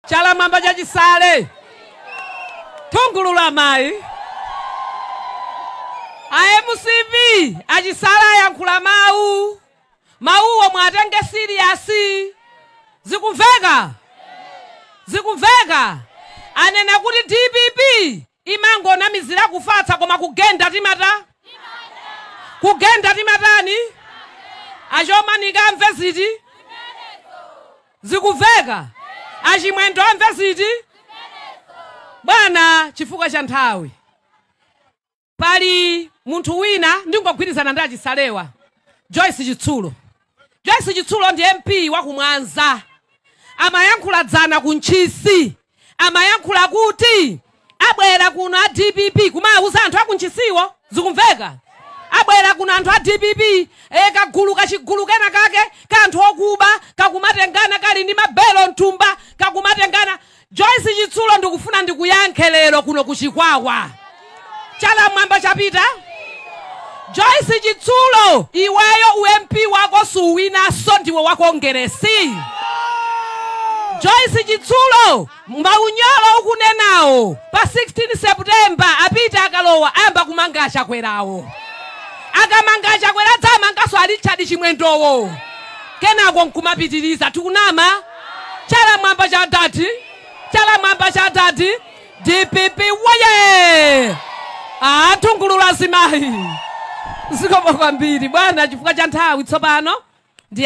Chala mmwamba cha Chisale nthungululu amayi a mcp a Chisale ayankhula mawu mawuwo muwatenge serious zikumveka zikumveka anena kuti dpp imangonamizira kufatsa koma kugenda timata kugenda timatani a Chomanika amve ziti zikumveka a Chimwendo amve ziti bwana chifukwa cha nthawi pali munthu wina ndingogwirizana ndi a Chisalewa Joyce Chitsulo Joyce Chitsulo ndi MP wa ku Mwanza amayankhula dzana ku Ntchisi, amayankhula kuti abwera kuno a dpp kumawuza anthu a ku Ntchisiwo, zikumveka? Abwera kuno anthu a dpp, e, kagulu kachigulu kena kake ka anthu okuba kakumatengana kali ndi mabelo m'thumba kakumatengana, Joyce chitsulo ndikufuna ndikuyankhe lero kuno ku chikwawa. Chala mmwamba cha Peter? Joyce chitsulo iweyo u MP wako suwinaso ndiwe wa kongeresi. Joyce chitsulo maunyolo ukunenawo pa 16 September a Peter akalowa ayamba kumanga a Chakwerawo. Akamanga a Chakwera adzamangaso a Richard Chimwendowo. Kenako nkumapitiriza tikunama. Chala mwamba cha adadi, chala mwamba cha adadi, dpp woye! Nthungululu azimayi zikomo kwambiri bwana, chifukwa cha nthawi tsopano.